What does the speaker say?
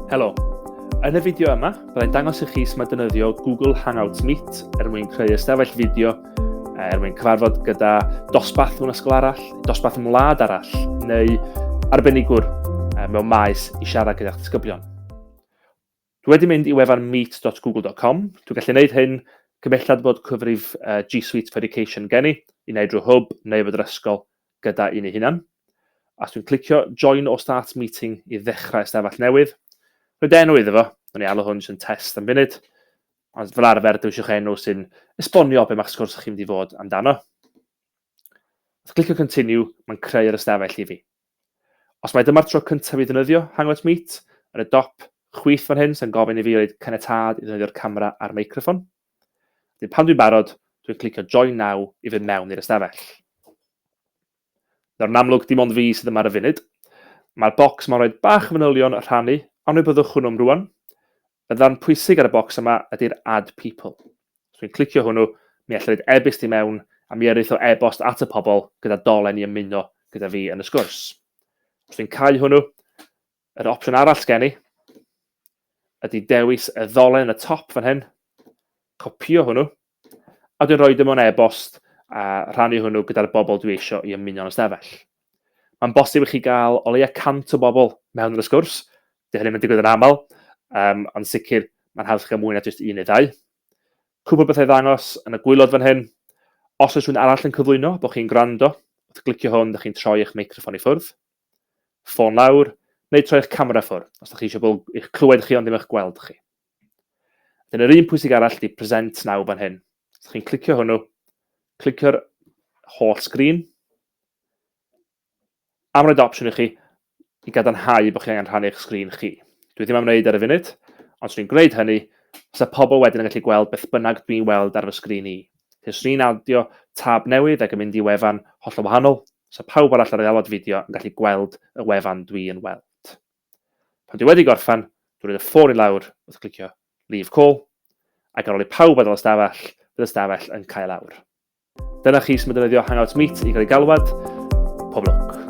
Helo! Yn y fideo yma, byddai'n dangos i chi sut mae defnyddio Google Hangouts Meet er mwyn creu ystafell fideo eh, er mwyn cyfarfod gyda dosbarth mewn ysgol arall, dosbarth mewn wlad arall, neu arbenigwr eh, mewn maes i siarad gyda'ch disgyblion. Dwi wedi mynd i wefan meet.google.com, dwi'n gallu gwneud hyn, cymellad bod cyfrif uh, G Suite Verification gen i, i wneud drwy hwb neu fod yr ysgol gyda un ei hunan. Os dwi'n clicio Join o Start Meeting i ddechrau ystafell newydd, rhaid enw iddo fo, dwi'n ei alw hwn sy'n test am funud, ond fel arfer dewisiwch enw sy'n esbonio be mae'ch sgwrs chi'n mynd i fod amdano. Os clicio Continue, mae'n creu'r ystafell i fi. Os mai dyma'r tro cyntaf i fi ddefnyddio Hangouts Meet, yn y dop chwith fan hyn sy'n gofyn i fi roid caniatâd i ddefnyddio'r camera a'r meicroffon. Wedyn pan dwi'n barod, dwi'n clicio Join Now i fynd mewn i'r ystafell. Nawr yn amlwg dim ond fi sydd yma ar y funud. Mae'r bocs yma'n rhoi bach o fanylion rhannu, ond fe byddwch hwnnw'm rwan. Y ddarn pwysig ar y bocs yma ydy'r Add People. Os dwi'n clicio hwnnw, mi allai roed e-byst i mewn a mi yrith o e-bost at y pobl gyda dolen i ymuno gyda fi yn y sgwrs. Os dwi'n cau hwnnw, yr opsiwn arall gen i ydy dewis y ddolen yn y top fan hyn, copio hwnnw, a dwi'n rhoi dim ond e-bost a rhannu hwnnw gyda'r bobl dwi eisiau i ymuno'n ystafell. Mae'n bosib i chi gael o leia 100 o bobl mewn i'r sgwrs, dy hynny'n mynd i yn aml, um, ond sicr mae'n haws gael mwy na jyst un neu ddau. Cwpl bethau ddangos yn y gwylod fan hyn. Os oes rhywun arall yn cyflwyno bod chi'n gwrando, wrth glicio hwn, ydych chi'n troi eich meicroffon i ffwrdd. Ffôn lawr, neu troi'ch camera ffwr, os da chi eisiau bobl eich clywed chi ond ddim eich gweld chi. Wedyn yr un pwysig arall di present now fan hyn. Os chi'n clicio hwnnw, clicio'r holl sgrin. Am roed opsiwn i chi i gadarnhau bod chi angen rhannu eich sgrin chi. Dwi ddim am wneud ar y funud, ond swn i'n gwneud hynny, os y pobl wedyn yn gallu gweld beth bynnag dwi'n weld ar fy sgrin i. Os ni'n adio tab newydd ac yn mynd i wefan holl o wahanol, So pawb arall ar ei alwad fideo yn gallu gweld y wefan dwi yn weld. Pan dwi wedi gorffan, dwi roid y ffôn i lawr wrth clicio Leave Call, ac ar ôl i pawb adael y stafell, bydd y stafell yn cael awr. Dyna chi sut mae defnyddio Hangout Meet i gael ei galwad. Pob lwc.